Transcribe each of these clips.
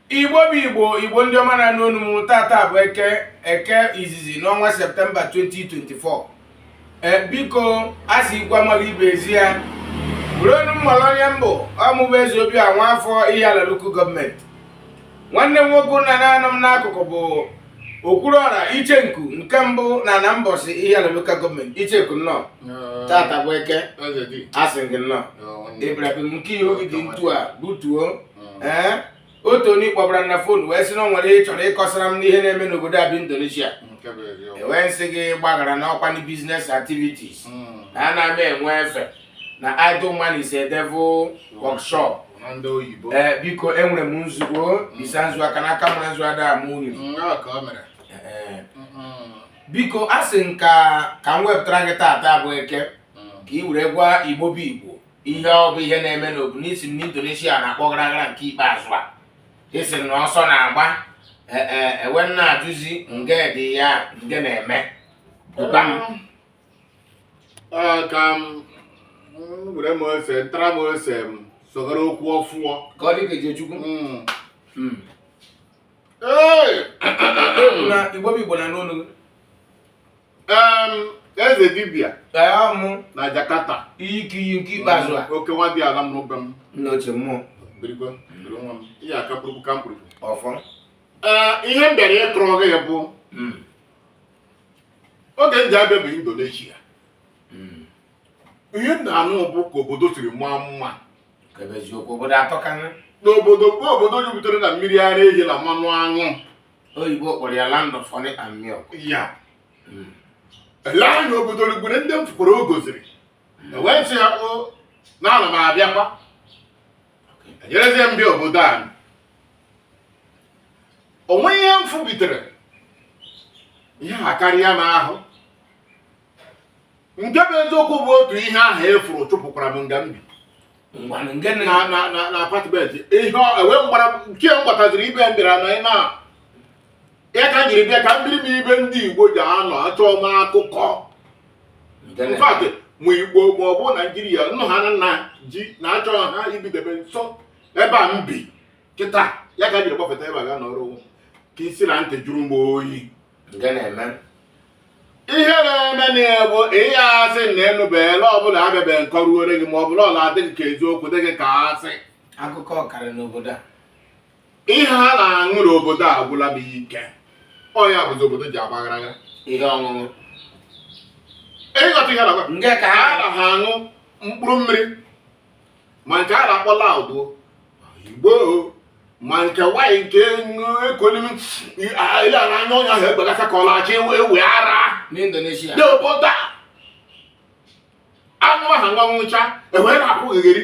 igbo bụ igbo igbo ndị ọma na-anụ onu m taata bụ eke eke izizi n'ọnwa septemba 2024 ee biko a sị ikwu amaghị ibe ezi ya were onu m malụ onye m bụ ọ mụ bụ eze obi a nwa afọ ihiala lokal gọọmenti nwanne m nwoke na-anọ m n'akụkụ bụ Okwuluọra Ichenku nke mbụ n'ana Mbọsị Ihiala lokal gọọmenti Ichenku nnọọ taata bụ eke a sị m gị nnọọ Ibrahim nke ihu gị dị ntu a butuo ee otu onye kpọbara na fon wee sị na o nwere ihe ị chọrọ ịkọsara m n'ihe na-eme n'obodo a bụ Indonesia e wee m sị gị gbaghara na ọ kwanụ business activities na ana m enwe efe na idle man is a devil workshop ee eh, biko enwere m nzu ngọ bisa nzu aka na aka mara nzu ada ama uri biko a sị m ka ka m wepụtara gị taata bụ eke mm. ka ị were gwa igbo bụ igbo ihe ọ bụ ihe na-eme n'obu n'isi m n'indonesia na-akpọ gara gara nke ikpeazụ a a sị na ọsọ na-agba e wee m na-ajụzi nge dị ya nge na-eme ka m were m ose ntara m ose m sogara okwu ọfụọ ka ọ dị ka Ejechukwu Mm. Ee, Egwu na Igbo bụ Igbo na-anụ olu gị. em, eze dibịa Ee, ọ mụ na Jakarta iyi ka iyi nke ikpeazụ a oke nwa dị ala m n'ụbe m nna ochie mmụọ birikwa biri nwa m ihe aka kpụrụkpụ ka m kpụrụkpụ ọfọ ee ihe m bịara ịkọrọ gị bụ Mm. oge m ji abịa bụ indonesia Mm. ihe m na-anụ bụ ka obodo siri maa mma Ka ebe eziokwu obodo atọka nna. na obodo bụ obodo jupụtara na mmiri ara ehi na mmanụ aṅụ Oyibo kpọrọ ya land of honey and milk. ya Mm. ele anya obodo rugbere ndị m fụkwara o goziri e wee sị ya o na ana m abịakwa ejerezie m bịa obodo a o nweghị ihe m fụbitere ihe ha karịa m ahụ nke bụ eziokwu bụ otu ihe ahụ efuru chụpụkwara m nga m bi ngwanụ nke nne na na na na apatment ihe ọ- enwe mgbara nke m gbataziri ibe m bịara na ị na ya ka jiri bịa ka m biri na ibe ndị igbo ji anọ achọ m akụkọ mfadị ma igbo ma ọ bụ naijiria nnu ha nna ji na-achọ ha ibidebe m nso ebe a m bi kịta ya ka jiri gbafeta ebe a ga nọrọ onwe ka isi na ntị jụrụ m oyi ihe na-eme na ya bụ ihe a sị na enụbeela ọ bụla abịabe nkọ ruore gị ma ọ bụla ọla adịghị ka eziokwu dịghị ka a si akụkọ ọkara n'obodo a ihe ha na-aṅụ n'obodo agwụla m ike ọnya bụzi obodo ji agbaghara ya ihe ọṅụṅụ ịghọta ihe na-agwa nke ka ha ha na-aṅụ mkpụrụ mmiri ma nke a na-akpọ loud igbo ma nke nwanyị nke ekolimi ile ara anya ọnya ahụ egbegasa ka ọ na-achọ ewe ewe ara n'indonesia dị obodo a anụ aha nwa ṅụcha e wee na-akwụgheri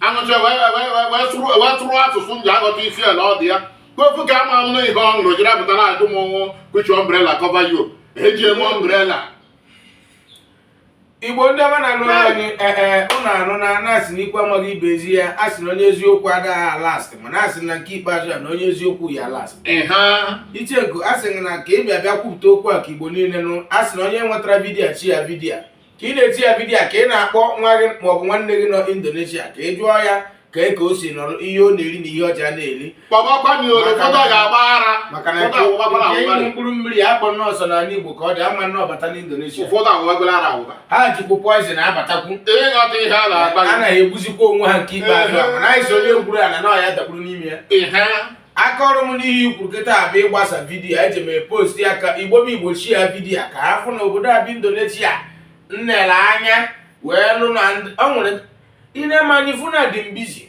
aṅụcha wee tụrụ asụsụ m ji aghọta isi ala ọ dị ya kpofu ka ama m na ihe ọ nụrụ jiri apụtara ajụ m ọnwụ kpuchi umbrella cover ya o e ji eme umbrella igbo ndị ọma na-alụ anyị ee ụnụ arụ na na-asị na ikwu amaghị ibe ezi ya a sị na onye eziokwu agaghị alast mana a sị na nke ikpeazụ ya na onye eziokwu ya last icheku a sị na ka ị bịa bịa kwupụta okwu a ka igbo niile nụ a sị na onye nwetara vidiyo share vidiyo ka ị na-eti ya vidiyo ka ị na-akpọ nwa gị maọbụ nwanne gị nọ indonesia ka ị jụọ ya ka e ka o si nọrọ ihe ọ na-eri na ihe ọ ja na-eri maka na nke mkpụrụ mmiri a akpọ nọọsụ na ala igbo ka ọ dị ama na ọ bata n'indonesia ha jikwu poison abatakwu a na-egbuzikwa onwe ha nke ikpeazụ mana anyị sị onye gwuru ala na ọ ya dakpuru n'ime ya aka ọrụ m n'ihe ikwu kịta bụ ịgbasa vidiyo eji m post ya ka igbo m igbo share vidiyo ka ha fụ na obodo a bụ indonesia nnele anya wee lụ na ọ nwere i nee m anya ị fụ na adị m busy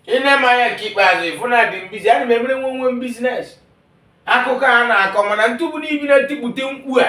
i nee m anya nke ikpeazụ ị fụ na adị m busy ana m emere onwe onwe m business akụkọ a na-akọ mana ntụbụ n'ibi na-etikpute mkpu a